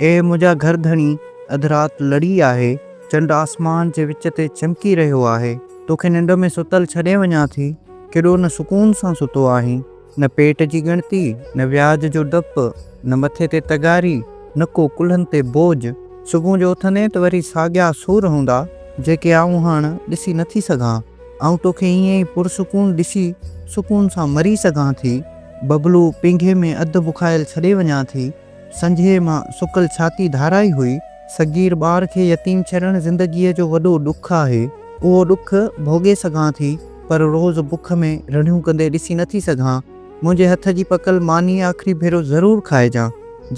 اي منهنجا گهر ڌڻي! اڌ رات لڙي آهي، چنڊ آسمان جي وچ تي چمڪي رهيو آهي، توکي ننڊ ۾ ستل ڇڏي وڃان ٿي، ڪيڏو نه سڪون سان ستو آهين، نه پيٽ جي ڳڻتي، نه وياج جو ڊپ، نه مٿي تي تغاري، نه ڪو ڪلهن تي بوج، صبح جو اٿندين ته وري ساڳيا سور هوندا، جيڪي آئون هاڻ ڏسي نٿي سگهان. آئون توکي ائين ئي پرسڪون ڏسي سڪون سان مري سگهان ٿي. ببلو پينگهي ۾ اڌ بکايل ڇڏي وڃان ٿي. سنجهي مان سڪل ڇاتي ڌارائي هئي. صغير ٻار کي يتيم ڇڏڻ زندگيء جو وڏو ڏک آهي. اهو ڏک ڀوڳي سگهان ٿي پر روز بک ۾ رڙهيون ڪندي ڏسي نٿي سگهان. منهنجي هٿ جي پڪل ماني آخري ڀيرو ضرور کائجان،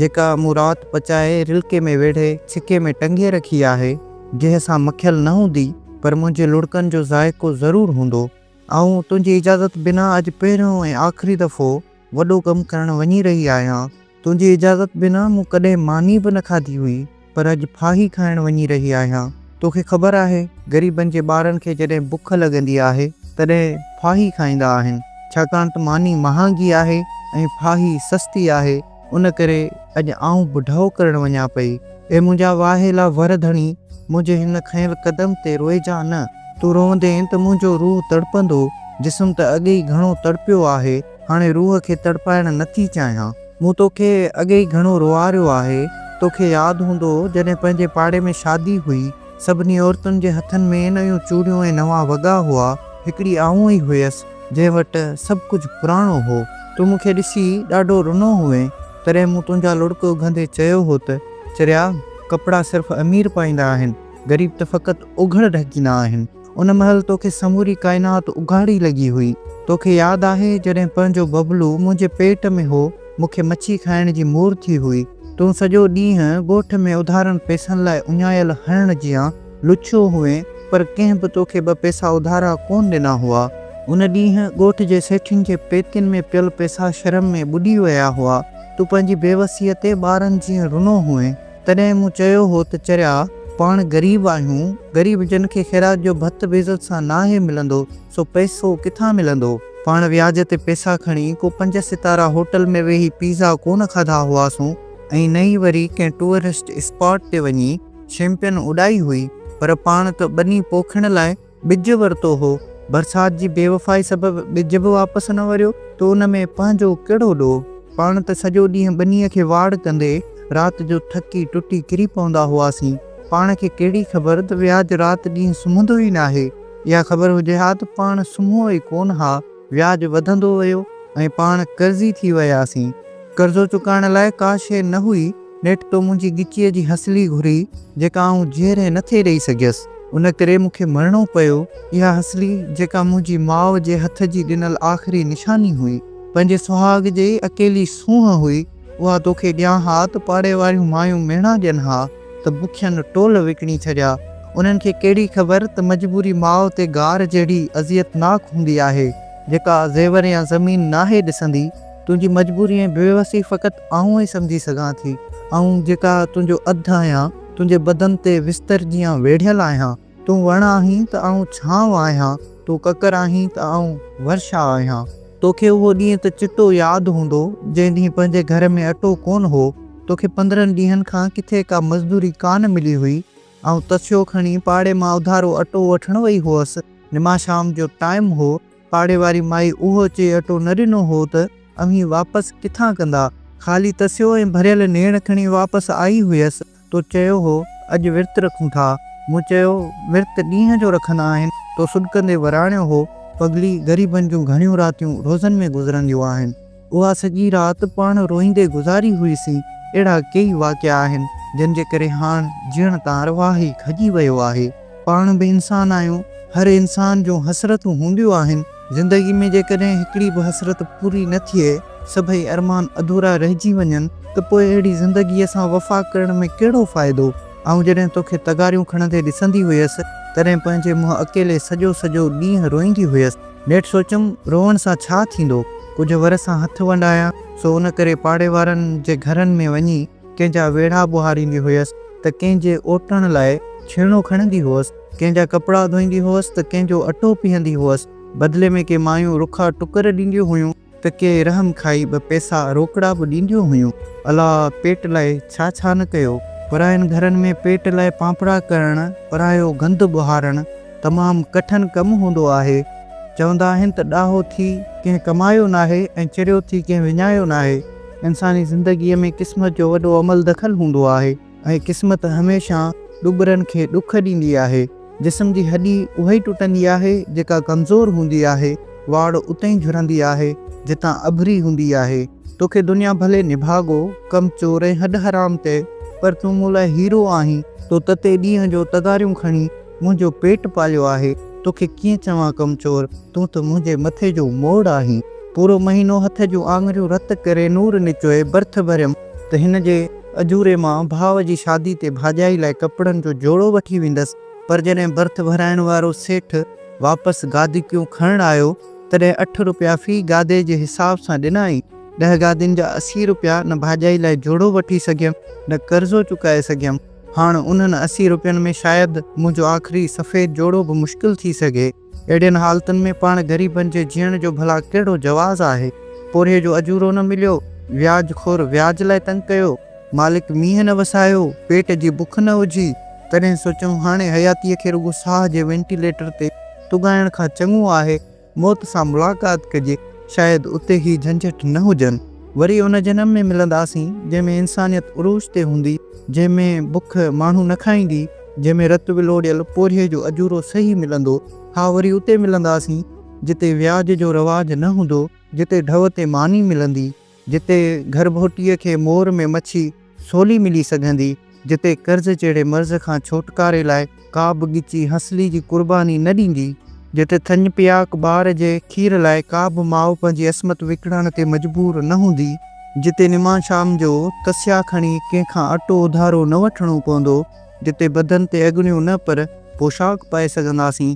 جيڪا مون رات پچائي رلڪي ۾ ويڙهي ڇڪي ۾ ٽنگي رکي آهي. جنهن سان مکيل نه هوندي پر منهنجي لڙڪن جو ذائقو ضرور هوندو. آئون تنهنجي اجازت بنا اڄ پهريون ۽ آخري دفعو وڏو ڪم ڪرڻ وڃي رهي آهيان. تنهنجي اجازت بنا مون ڪڏهن ماني به نه کاڌي هئي پر اڄ ڦاهي کائڻ وڃي رهي آهيان. توکي خبر آهي غريبن جي ٻارن کي جڏهن بک لڳندي آهي تڏهن ڦاهي کائيندا آهن ڇاڪاڻ ته ماني مهانگي آهي ۽ ڦاهي سستي آهي. ان ڪري اڄ آئون بڍائو ڪرڻ وڃان پئي. اي منهنجا واهيلا ور ڌڻي، منهنجي هن کنيل قدم تي روئجان نه. تون روئندين ته منهنجو روح تڙپندو. جسم ته اڳ ئي گهڻو تڙپيو آهي، هاڻي روح کي تڙپائڻ نه ٿي چاهيان. مون توکي اڳ ئي گهڻو روئاريو آهي. توکي ياد هوندو، جڏهن پنهنجي پاڙي ۾ شادي هئي، سڀني عورتن جي هٿن ۾ نيون چوڙيون ۽ نوان وڳا هئا. هڪڙي آئون ئي هيس. جنهن وٽ سڀ ڪجهه پراڻو هو. تون مون کي ڏسي ڏاڍو رنو هئين، تڏهن مون تنهنجا لڙڪ اگهندي چيو هو ته، چريا، ڪپڙا صرف امير پائيندا آهن، غريب ته فقط اوگهڙ ڍڪيندا آهن. ان مهل تو کي سموري ڪائنات اگهاڙي لڳي هئي. تو کي ياد آهي، جڏهن پنهنجو ببلو منهنجي پيٽ ۾ هو، مون کي مڇي کائڻ جي مور ٿي هئي. تون سڄو ڏينهن ڳوٺ ۾ اڌارن پئسن لاء اڃايل هرڻ جيان، لڇو هئين، پر ڪنهن به توکي ٻه پئسا اڌارا ڪونه ڏنا هئا. ان ڏينهن ڳوٺ جي سيٺين جي پيتين ۾ پيل پئسا شرم ۾ ٻڏي ويا هئا. تون پنهنجي بيوسيء تي ٻارن جيئن رنو هئين. تڏهن مون چيو هو ته چريا، پاڻ غريب آهيون، غريب جن کي خيرات جو ڀت به عزت سان ناهي ملندو، سو پئسو ڪٿان ملندو؟ پاڻ وياج تي پئسا کڻي ڪو پنج ستارا هوٽل ۾ ويهي پيزا ڪونه کاڌا هئاسون ۽ نه ئي وري ڪنهن ٽوئرسٽ اسپاٽ تي وڃي، شيمپين اڏائي هئي پر پاڻ ته ٻني پوکڻ لاء ٻج ورتو هو، برسات جي بيوفائي سبب ٻج به واپس نه وريو ته ان ۾ پنهنجو ڪهڙو ڏوهه؟ پاڻ ته سڄو ڏينهن ٻنيء کي واڙ ڪندي رات جو ٿڪي ٽٽي ڪري پوندا هئاسين، پاڻ کي ڪهڙي خبر ته وياج رات ڏينهن سمهندو ئي ناهي، اها خبر هجي ها ته پاڻ سمهيو ئي ڪونه ها. وياج وڌندو ويو ۽ پاڻ قرضي ٿي وياسين. قرضو چڪائڻ لاء ڪا شيء نه هئي، نيٺ تو منهنجي ڳچيء جي هسلي گهري، جيڪا آئون جيئري نه ٿي ڏيئي سگهيس. ان ڪري مون کي مرڻو پيو. اها هسلي، جيڪا منهنجي ماء جي هٿ جي ڏنل آخري نشاني هئي، پنهنجي سهاڳ جي اڪيلي سونهن هئي، اها توکي ڏيان ها ته پاڙي واريون مايون ميڻا ڏين ها. ته بکين ٽول وڪڻي ڇڏيا. انهن کي ڪهڙي خبر ته مجبوري ماء تي گار جهڙي اذيتناڪ هوندي آهي، جيڪا زيور يا زمين ناهي ڏسندي. تنهنجي مجبوري ۽ بيوسي فقط آئون ئي سمجهي سگهان ٿي، آئون جيڪا تنهنجو اڌ آهيان، تنهنجي بدن تي وستر جيان ويڙهيل آهيان. تون وڻ آهين ته آئون ڇانو آهيان، تون ڪڪر آهين ته آئون ورشا آهيان. توکي اهو ڏينهن ته چٽو ياد هوندو، جنهن ڏينهن پنهنجي گهر ۾ اٽو ڪونه هو. توکي پندرهن ڏينهن کان ڪٿي ڪا مزدوري ڪانه ملي هئي. آئون تسيو کڻي پاڙي مان اڌارو اٽو وٺڻ وئي هئس. نماز شام جو ٽائيم هو. پاڙي واري مائي اهو چئي اٽو نه ڏنو هو ته اوهين واپس ڪٿان ڪندا. خالي تسيو ۽ ڀريل نيڻ کڻي واپس آئي هئس. تو چيو هو اڄ ورت رکون ٿا. مون چيو ورت ڏينهن جو رکندا آهن. تو سڏڪندي وراڻيو هو پڳلي غريبن جون گهڻيون راتيون روزن ۾ گذرنديون آهن. اها سڄي رات پاڻ روئيندي گذاري هئيسين. اهڙا ڪيئي واقعا آهن جن جي ڪري هاڻ جيئڻ تان ارواح ئي کڄي ويو آهي. پاڻ به انسان آهيون. هر انسان جون حسرتون هونديون آهن. زندگي ۾ جيڪڏهن هڪڙي به حسرت پوري نه ٿئي، سڀئي ارمان اڌورا رهجي وڃن ته پوء اهڙي زندگيء سان وفا ڪرڻ ۾ ڪهڙو فائدو؟ آئون جڏهن توکي تغاريون کڻندي ڏسندي هيس، تڏهن پنهنجي منهن اڪيلي سڄو سڄو ڏينهن روئيندي هيس. نيٺ سوچيم، روئڻ سان ڇا ٿيندو؟ ڪجهه ور سان هٿ ونڊايان، سو ان ڪري پاڙي وارن جي گهرن ۾ وڃي، ڪنهن جا ويڙها ٻهاريندي هيس ته ڪنهن جي اوٽڻ لاء ڇيڻو کڻندي هئس، ڪنهن جا ڪپڙا ڌوئيندي هئس ته ڪنهن جو اٽو پيهندي هئس، بدلي ۾ ڪي مايون رکا ٽڪر ڏينديون هيون ته ڪي رحم کائي ٻه پئسا روڪڙا به ڏينديون هيون. الا پيٽ لاء ڇا ڇا نه ڪيو. پراين گهرن ۾ پيٽ لاء پانپڙا ڪرڻ، پرايو گند ٻهارڻ تمام ڪٺن ڪم هوندو آهي. چوندا آهن ته ڏاهو ٿي ڪنهن ڪمايو ناهي ۽ چريو ٿي ڪنهن وڃايو ناهي. انساني زندگيء ۾ قسمت جو وڏو عمل دخل هوندو آهي ۽ قسمت هميشه ڏٻرن کي ڏک ڏيندي آهي. جسم جي هڏي اها ئي ٽٽندي آهي جيڪا ڪمزور هوندي آهي، واڙ اتي ئي جهرندي آهي جتان اڀري هوندي آهي. توکي دنيا ڀلي نڀاڳو، ڪم چور ۽ هڏ حرام چئي پر تون مون لاء هيرو آهين. تو تتي ڏينهن جو تغاريون کڻي. منهنجو پيٽ پاليو آهي، توکي ڪيئن چوان ڪم چور، تون ته منهنجي مٿي جو موڙ آهين. پورو مهينو هٿ جون آڱريون رت ڪري نور نچوئي برٿ ڀريم ته هن جي اجوري مان ڀاء جي شادي تي ڀاڄائي لاء ڪپڙن جو جوڙو وٺي ويندس پر جڏهن برٿ ڀرائڻ وارو سيٺ واپس گادڪيون کڻڻ آيو تڏهن اٺ روپيا في گادي جي حساب سان ڏنائين ڏهه گادين جا اسي روپيا نه ڀاڄائي لاء جوڙو وٺي سگهيم نه قرضو چڪائي سگهيم. هاڻ انهن اسي روپين ۾ شايد منهنجو آخري سفيد جوڙو به مشڪل ٿي سگهي. اهڙين حالتن ۾ پاڻ غريبن جي جيئڻ جو ڀلا ڪهڙو جواز آهي؟ پورهيي جو اجورو نه مليو، وياج خور وياج لاء تنگ ڪيو، مالڪ مينهن نه وسايو، پيٽ جي بک نه اجهي، تڏهن سوچيم هاڻي حياتيء کي رڳو ساهه جي وينٽيليٽر تي تڳائڻ کان چڱو آهي موت سان ملاقات ڪجي، شايد اتي هي جهنجهٽ نه هجن. وري ان جنم ۾ ملنداسين، جنهن ۾ انسانيت عروج تي هوندي، جنهن ۾ بک ماڻهو نه کائيندي، جنهن ۾ رت ولوڙيل پورهيي جو اجورو صحيح ملندو. ها وري اتي ملنداسين، جتي وياج جو رواج نه هوندو، جتي ڍؤ تي ماني ملندي. جتي گهرڀوٽيء کي مور ۾ مڇي سولي ملي سگهندي، جتي قرض جهڙي مرض کان ڇوٽڪاري لاء ڪا به ڳچي هنسلي جي قرباني نه ڏيندي، جتي ٿڃ پياڪ ٻار جي کير لاء ڪا به ماء پنهنجي عصمت وڪڻڻ تي مجبور نه هوندي، جتي نماڻ شام جو تسيا کڻي ڪنهن کان اٽو اڌارو نه وٺڻو پوندو، جتي بدن تي اڳڻيون نه پر پوشاڪ پائي سگهنداسين.